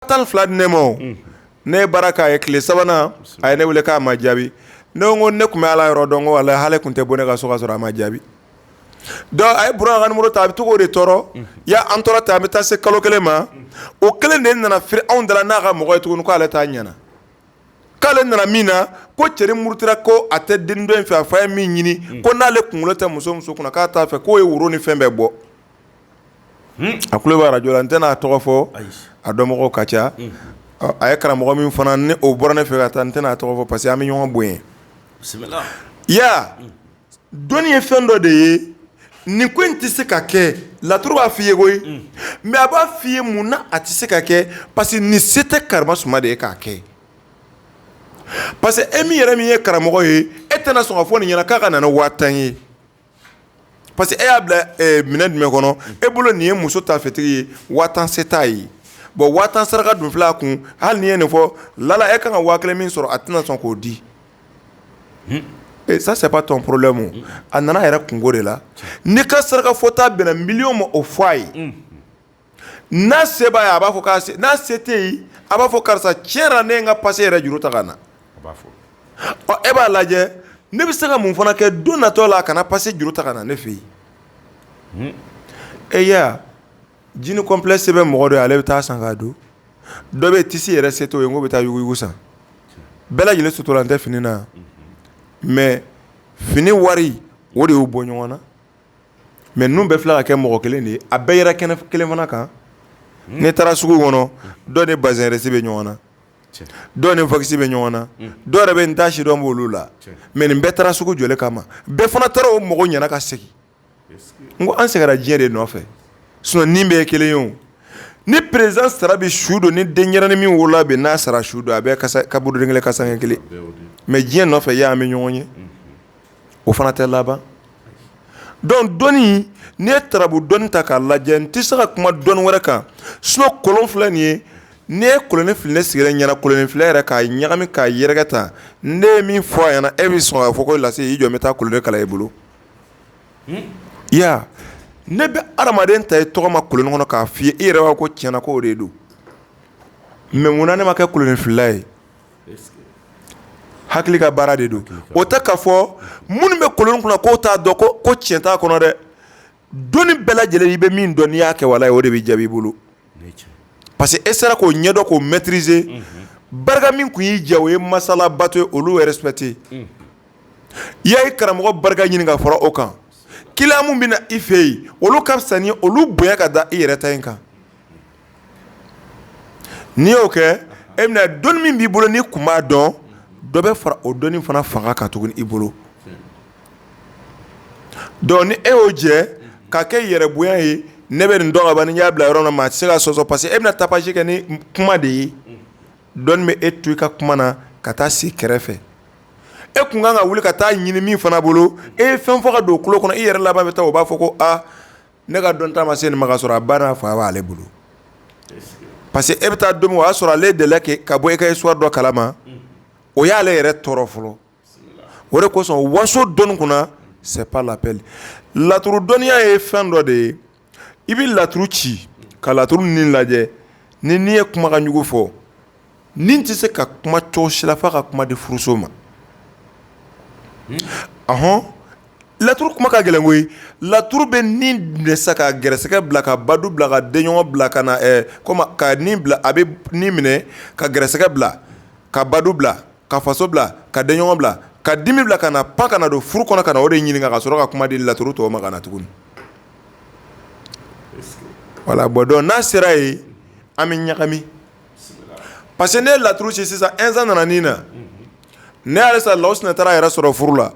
tan fila di ne ma ne ye baara k'a ye tile sabanan a ye ne weele k'a ma jaabi ne ko ne tun bɛ ala yɔrɔ dɔn walayi ale tun tɛ bɔ ne ka so ka sɔrɔ a ma jaabi a ye muru ta a bɛ to o de tɔɔrɔ y ya an tora ten an bɛ taa se kalo kelen ma o kelen de nana firi anw da la n'a ka mɔgɔ ye tuguni k'ale ta ɲɛna k'ale nana min na ko cɛ murutira ko a tɛ den dɔ in fɛ a fa ye min ɲini ko n'ale kunkolo tɛ muso muso kunna k'a t'a fɛ k'o ye woro ni fɛn bɛɛ bɔ a tulo b'a radio la n tɛna a tɔgɔ fɔ, ayi, a dɔnbagaw ka ca, unhun, ɔ a ye karamɔgɔ min fana ni o bɔra ne fɛ ka taa n tɛna a tɔgɔ fɔ parce que an bɛ ɲɔgɔn bonya, bisimila, i y'a ye wa, dɔnni ye fɛn dɔ de ye nin ko in tɛ se ka kɛ laturu b'a fɔ i ye koyi, unhun, mais a b'a fɔ i ye mun na a tɛ se ka kɛ parce que nin se tɛ karimasuma de ye k'a kɛ parce que e min yɛrɛ min ye karamɔgɔ ye e tɛna sɔn k'a fɔ nin ɲɛna k'a ka na ni waa tan ye Parce que e y'a bila minɛn jumɛn kɔnɔ e bolo nin ye muso ta fitiri ye waa tan se t'a ye bon waa tan saraka dun fila kun hali n'i ye nin fɔ lala e ka kan ka waa kelen min sɔrɔ a tɛna sɔn k'o di ça c'est pas ton problème a nana yɛrɛ kunko de la n'i ka saraka fɔta bɛnna miliyɔn ma o fɔ a ye n'a se b'a ye a b'a fɔ k'a se n'a se t'a ye a b'a fɔ karisa tiɲɛ yɛrɛ la ne ye n ka passe yɛrɛ juru ta ka na a b'a fɔ ɔ e b'a lajɛ ne bɛ se ka mun fana kɛ don natɔ la a kana passe juru ta ka na ne fɛ yen e y'a ye wa jean complet se bɛ mɔgɔ dɔ ye ale bɛ taa san k'a don dɔ bɛ yen tissu yɛrɛ se t'o ye k'o bɛ taa yuguyugu san bɛɛ lajɛlen suturalen tɛ fini na mais fini wari o de y'u bɔ ɲɔgɔn na. mɛ ninnu bɛ fila ka kɛ mɔgɔ kelen de ye a bɛɛ yɛrɛ kɛnɛ kelen fana kan n'i taara sugu kɔnɔ dɔ ni bazɛn risi bɛ ɲɔgɔn na dɔ ni fansi bɛ ɲɔgɔn na dɔw yɛrɛ bɛ n taa sidɔn bɛ olu la mɛ nin bɛɛ taara sugu jɔ kama mɛ bɛɛ fana taara u mago ɲɛna ka segin n ko an sɛgɛnna diɲɛ de nɔfɛ su bɛɛ ye kelen ye o ni perez sara bɛ su don ni denyɛrɛnin min wolola bi n'a sara su don a bɛɛ kaburudo kelen kasanke kelen mɛ diɲɛ nɔfɛ y' an bɛ ɲɔgɔn ye o fana tɛ laban donc dɔnni n'i ye turabu dɔnni ta k'a lajɛ n tɛ se ka kuma dɔnni wɛrɛ kan sinon kolon filɛ nin ye n'i ye kolonin fili sigira ɲɛna kolonin filila yɛrɛ k'a ɲagami k'a yɛrɛkɛ tan n ye min fɔ a ɲɛna e bɛ sɔn fɔ ko lase i jɔn bɛ taa kolon kalan i bolo ya ne bɛ adamaden ta i tɔgɔ ma kolon kɔnɔ k'a fɔ i e yɛrɛ ko tiɲɛ na ko o de don mɛ munna ne ma kɛ kolonin filila ye hakili ka baara de don o tɛ ka fɔ minnu bɛ kolon kunna k'u t'a dɔn ko tiɲɛ t'a kɔnɔ dɛ dɔnni bɛɛ lajɛlen i bɛ min dɔn n'i y'a kɛ wale ye o de bɛ jaabi i bolo parce que e sera k'o ɲɛdɔn k'o mɛtirize barika min tun y'i jɛ o ye masa ala bato ye olu rɛsipɛkite i y'i karamɔgɔ barika ɲini ka fara o kan kiliyan minnu bɛ na i fɛ yen olu ka fisa olu bonya ka da i yɛrɛ ta in kan n'i y'o kɛ e bɛna dɔnni min b'i bolo ni kun b'a dɔn dɔ bɛ fara o dɔnni fana fanga kan tuguni i bolo donc ni e y'o jɛ ka kɛ yɛrɛ bonya ye ne bɛ nin dɔn ni y'a bila yɔrɔ na maa tɛ se ka sɔsɔ parce que e bɛna tapage kɛ ni kuma de ye dɔnni bɛ e to i ka kuma na ka taa sigi kɛrɛfɛ e tun kan ka wuli ka taa ɲinin min fana bolo e ye fɛn fɔ ka don kunkolo kɔnɔ i yɛrɛ laban bɛ taa o b'a fɔ ko ne ka dɔnta ma se nin ma ka sɔrɔ a ba n'a fa b'ale bolo parce que e bɛ taa don min o y'a sɔrɔ ale de la kɛ ka bɔ e ka histoire dɔ kalama o y'ale yɛrɛ tɔɔrɔ fɔlɔ o de kosɔn waso dɔnni kunna c'est pas la peine laturu dɔnniya ye fɛn dɔ de ye i bɛ laturu ci ka laturu nin lajɛ ni n'i ye kumakanjugu fɔ Nin tɛ se ka kuma cogo si la fo a ka kuma di furuso ma ahɔn laturu kuma ka gɛlɛn koyi laturu bɛ ni minɛ sa ka gɛrɛsɛgɛ bila ka badu bila ka denɲɔgɔn bila ka na ka bila a bɛ minɛ ka gɛrɛsɛgɛ bila ka badu bila ka faso bila ka denɲɔgɔn bila ka dimi bila ka na pan ka na don furu kɔnɔ ka o de ɲini ka sɔrɔ ka kuma di laturu tɔgɔ ma ka na tuguni voilà bon donc n'a sera yen an bɛ ɲagami parce que ne ye laturu ci sisan Insa nana ni na ne yɛrɛ sɔrɔ Lawusinɛ taara a yɛrɛ sɔrɔ furu la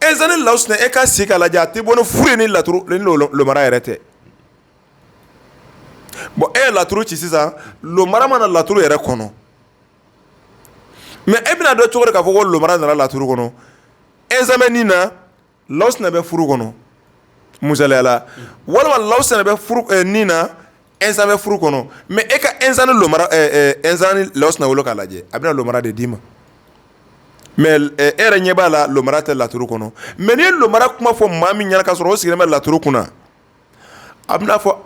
Insa ni Lawusinɛ e ka si k'a lajɛ a tɛ bɔ ni furu ye ni laturu ni lomara yɛrɛ tɛ bon e ye laturu ci sisan lomara ma na laturu yɛrɛ kɔnɔ mais e bɛna dɔn cogo di k'a fɔ ko lomara nana laturu kɔnɔ Insa bɛ ni na Lawusinɛ bɛ furu kɔnɔ misaliya la walima Lawusinɛ bɛ ni na Insa bɛ furu kɔnɔ mais e ka Insa ni lomara Insa ni Lawusinɛ wolo k'a lajɛ a bɛna lomara de d'i ma mais e yɛrɛ ɲɛ b'a la lomara tɛ laturu kɔnɔ mais n'i ye lomara kuma fɔ maa min ɲɛna ka sɔrɔ o sigilen bɛ laturu kunna a bɛna a fɔ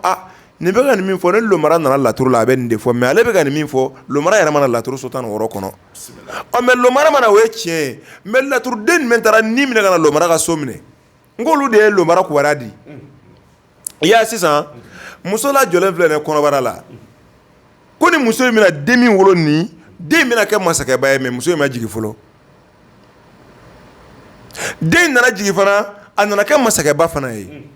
nin bɛ ka nin min fɔ ni lomara nana laturu la a bɛ nin de fɔ mais ale bɛ ka nin min fɔ lomara yɛrɛ ma na laturu so tan ni wɔɔrɔ kɔnɔ mais lomara ma na o ye tiɲɛ ye mais laturuden min taara ni minɛ ka na lomara ka so minɛ n ko olu de ye lomara kibaruya di i y'a sisan muso lajɔlen filɛ kɔnɔbara la ko nin muso in bɛna den min wolo nin den in bɛna kɛ masakɛba ye mais muso in ma jigin fɔlɔ den in nana jigin fana a nana kɛ masakɛba fana ye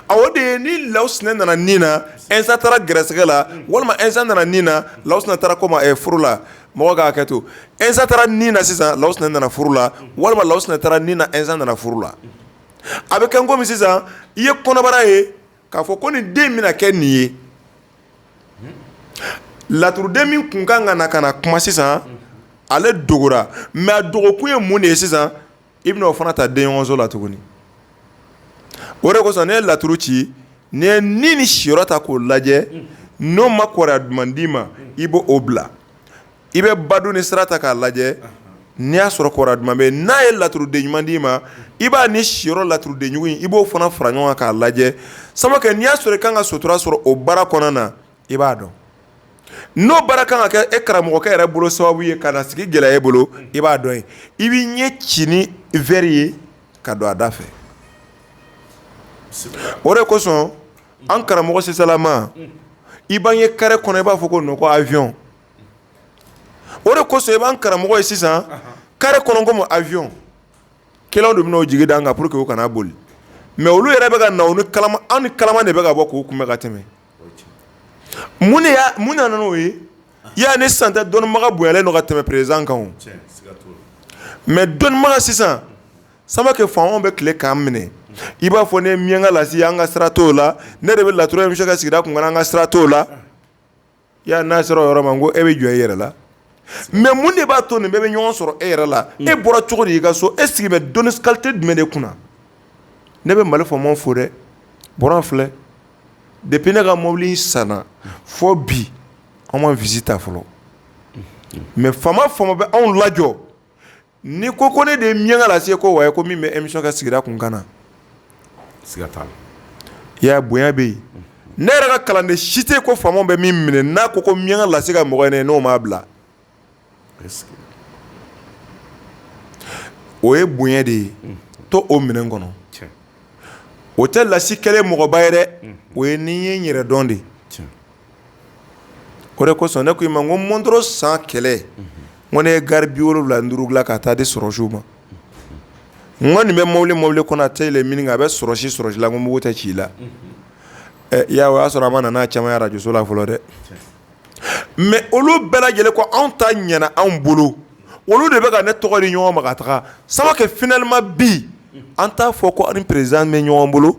a o de ye ni Lawusinɛ nana ni na Insa taara gɛrɛsɛgɛ la walima Insa nana ni na Lawusinɛ taara ko furu la mɔgɔ k'a kɛ to Insa taara ni na sisan Lawusinɛ nana furu la walima Lawusinɛ taara ni na Insa nana furu la a bɛ kɛ komi sisan i ye kɔnɔbara ye k'a fɔ ko nin den bɛna kɛ nin ye laturuden min tun ka kan ka na kuma sisan ale dogora mɛ a dogokun ye mun de ye sisan i bɛna o fana ta denso la tuguni o de kosɔn n'i ye laturu ci n'i ye ni ni siyɔrɔ ta k'o lajɛ n'o ma kɔrɔya duman di i ma i b'o bila i bɛ badon ni sira ta k'a lajɛ n'i y'a sɔrɔ kɔrɔ duman bɛ yen n'a ye laturuden ɲuman d'i ma i b'a ni siyɔrɔ laturudenjugu in i b'o fana fara ɲɔgɔn kan k'a lajɛ sama kɛ n'i y'a sɔrɔ i ka kan ka sutura sɔrɔ o baara kɔnɔna na i b'a dɔn n'o baara kan ka kɛ e karamɔgɔkɛ yɛrɛ bolo sababu ye ka sigi gɛlɛya e bolo i b'a dɔn ye i bɛ ɲɛ ci ni vri ye ka don a da fɛ o de kosɔn an karamɔgɔ sisan salama i b'an ye kari kɔnɔ i b'a fɔ ko nɔgɔya aviyɔn o de kosɔn i b'an karamɔgɔ ye sisan kari kɔnɔ aviyɔn ke de bɛ jigi da an kan pour que u kana boli mɛ olu yɛrɛ bɛ ka na anw ni kala de bɛ ka bɔ k'u kun ka tɛmɛ mun mun nana n'o ye i y'a ni san tɛ dɔnnibaga bonya yan ka tɛmɛ prezidan kan mɛ dɔnnibaga sisan sama kɛ faamaw bɛ tile k'an minɛ i b'a fɔ ne miyanka la an ka sira t' o la ne de bɛ laturu in bɛ se ka sigi kun an ka sira t' o la i y'a n'a sera o yɔrɔ ma ko e bɛ jɔ e yɛrɛ la mɛ mun de b'a to nin bɛɛ bɛ ɲɔgɔn sɔrɔ e yɛrɛ la e bɔra cogo di i ka so e sigi bɛ dɔnni kalite jumɛn de kunna ne bɛ mali fɔ fo dɛ bɔra filɛ depi ne ka mɔbili san fo bi an ma visite ta fɔlɔ mɛ faama faama bɛ anw lajɔ n'i ko ko ne de ye miyanka lasi ye ko wa ko min bɛ émission ka sigira kun kana na siga t'a la bonya bɛ yen ne yɛrɛ ka kalanden si tɛ ko faamaw bɛ min minɛ n'a ko ko miyanka lasi ka mɔgɔ ye n'o ma bila o ye bonya de ye to o minɛn kɔnɔ o tɛ lasi kɛlen mɔgɔba yɛrɛ o ye n'i y'i yɛrɛ dɔn de ye o de kosɔn ne ko i ma ko mɔntɔn san kɛlɛ ko ne ye garibi wolowula duuru la ka taa di sɔrɔdasiw ma n kɔni nin bɛ mɔbili mɔbili kɔnɔ tɛ a bɛ sɔrɔdasi sɔrɔdasi la ko mugu tɛ ci i la o y'a sɔrɔ a ma nana camanjɔso la fɔlɔ dɛ mɛ olu bɛɛ lajɛlen ko anw ta ɲana anw bolo olu de bɛka ne tɔgɔ di ɲɔgɔn ma taga sama kɛ finalement bi an t'a fɔ ko prezidan bɛ ɲɔgɔn bolo